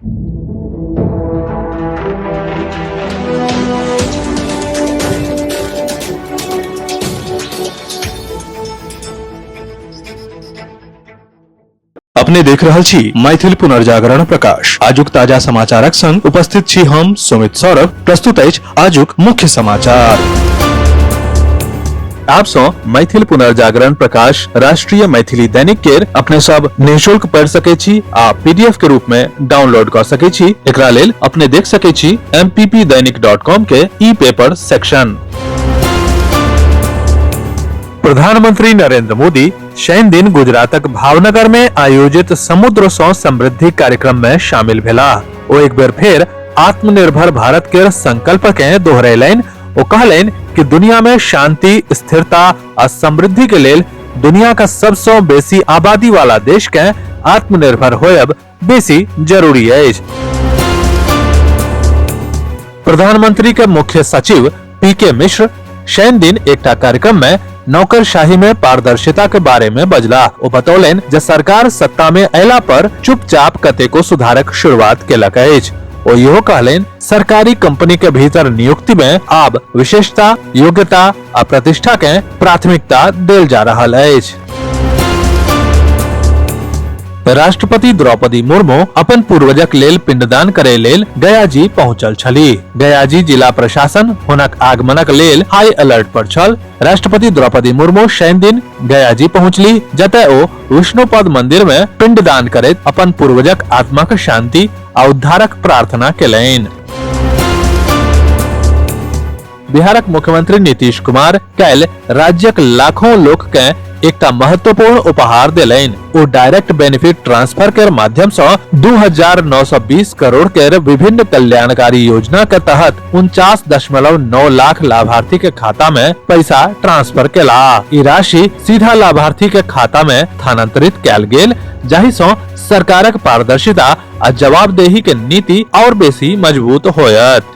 अपने देख रहल छी मैथिल पुनर्जागरण प्रकाश आजुक ताजा समाचारक संग उपस्थित छी हम सुमित सौरभ प्रस्तुत अछि आजुक मुख्य समाचार आप सो मैथिल पुनर्जागरण प्रकाश राष्ट्रीय मैथिली दैनिक केर अपने सब निशुल्क पढ़ सके छी आ पीडीएफ के रूप में डाउनलोड कर सके छी एकरा लेल अपने देख सके छी mppdainik.com के ई पेपर सेक्शन प्रधानमंत्री नरेंद्र मोदी शनि दिन गुजरातक भावनगर में आयोजित समुद्र सौ समृद्धि कार्यक्रम में शामिल भेला ओ एक बेर फेर आत्मनिर्भर भारत के संकल्प के दोहरेलनि ओ कहलनि कि दुनिया में शांति स्थिरता आ समृद्धि के लेल दुनिया का सबसे बेसी आबादी वाला देश के आत्मनिर्भर होयब बेसी जरूरी अछि प्रधानमंत्री के मुख्य सचिव पी के मिश्र शनि दिन एकटा कार्यक्रम में नौकरशाही में पारदर्शिता के बारे में बजला ओ बतौलन जे सरकार सत्ता में अयला पर चुपचाप कतेको सुधारक शुरुआत केलक अछि ओ इहो कहलन सरकारी कंपनी के भीतर नियुक्ति में आब विशेषता योग्यता आ प्रतिष्ठा के प्राथमिकता देल जा रहल अछि राष्ट्रपति द्रौपदी मुर्मु अपन पूर्वजक लेल पिंडदान करे लेल गया जी पहुंचल छली गया जी जिला प्रशासन हुनक आगमनक लेल हाई अलर्ट पर छल राष्ट्रपति द्रौपदी मुर्मु शनि दिन गया जी पहुंचली जतय ओ विष्णुपद मंदिर में पिंडदान करैत अपन पूर्वजक आत्माक शांति आ उद्धारक प्रार्थना केलनि बिहारक मुख्यमंत्री नीतीश कुमार काल्हि राज्यक लाखों लोक के एकटा महत्वपूर्ण उपहार देलनि ओ डायरेक्ट बेनिफिट ट्रांसफर के माध्यम से 2,920 करोड़ के विभिन्न कल्याणकारी योजना के तहत उनचास दशमलव नौ लाख लाभार्थी के खाता में पैसा ट्रांसफर केला ई राशि सीधा लाभार्थी के खाता में स्थानांतरित कैल गेल जाहि से सरकारक पारदर्शिता आ जवाबदेही के नीति और बेसी मजबूत होयत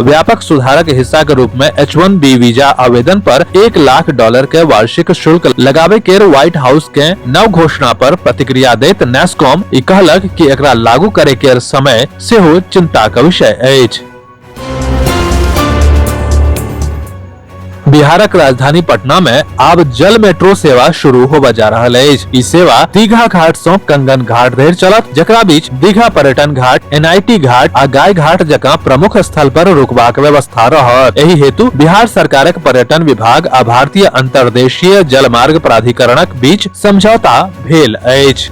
व्यापक सुधारक हिस्सा के रूप में एच वन बी वीजा आवेदन पर एक लाख डॉलर के वार्षिक शुल्क लगाबे के व्हाइट हाउस के नव घोषणा पर प्रतिक्रिया देत नेस्कॉम ई कहलक कि एकरा लागू करे के समय सेहो चिंता के विषय अछि बिहारक राजधानी पटना में आब जल मेट्रो सेवा शुरू होबा जा रहल अछि ई सेवा दीघा घाट सँ कंगन घाट धरि चलत जकरा बीच दीघा पर्यटन घाट एनआईटी घाट आ गाय घाट जकाँ प्रमुख स्थल पर रुकबाक व्यवस्था रहत एहि हेतु बिहार सरकारक पर्यटन विभाग आ भारतीय अंतर्देशीय जलमार्ग प्राधिकरणक बीच समझौता भेल अछि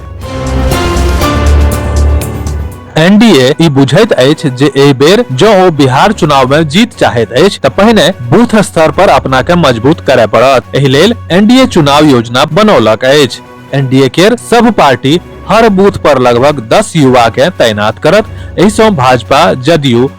एनडीए ई बुझैत अछि जे एहि बेर जँ ओ बिहार चुनाव में जीत चाहैत अछि तऽ पहिने बूथ स्तर पर अपना के मजबूत करय पड़त एहि लेल एनडीए चुनाव योजना बनौलक अछि एनडीए केर सब पार्टी हर बूथ पर लगभग दस युवा के तैनात करत एहिसँ भाजपा जदयू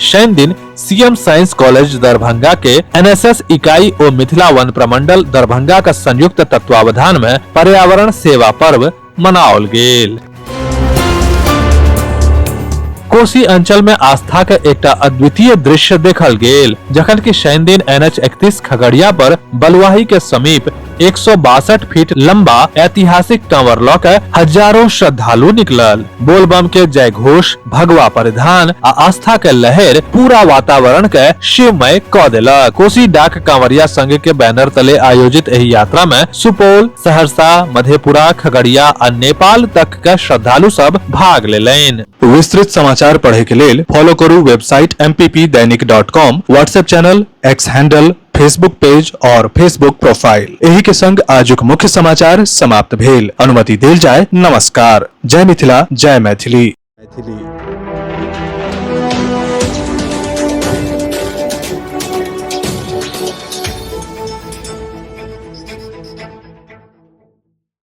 शनि दिन सीएम साइंस कॉलेज दरभंगा के एनएसएस इकाई और मिथिला वन प्रमंडल दरभंगा का संयुक्त तत्वावधान में पर्यावरण सेवा पर्व मनाओल गेल कोसी अंचल में आस्था के एकटा अद्वितीय दृश्य देखल गेल जखन कि शनि दिन एन एच इकतीस खगड़िया पर बलुआही के समीप एक सौ बासठ फीट लंबा ऐतिहासिक कांवर लऽ के हजारों श्रद्धालु निकलल बोलबम के जय घोष भगवा परिधान आ आस्था के लहर पूरा वातावरण के शिवमय क देलक कोसी डाक कांवरिया संघ के बैनर तले आयोजित एहि यात्रा में सुपौल सहरसा मधेपुरा खगड़िया आ नेपाल तक के श्रद्धालु सब भाग लेलनि विस्तृत समाचार पढ़े के लेल फॉलो करू website M Dainik dot com WhatsApp channel X handle Facebook page और फेसबुक प्रोफाइल एही के संग आजुक मुख्य समाचार समाप्त भेल अनुमति देल जाय नमस्कार जय मिथिला जय मैथिली मैथिली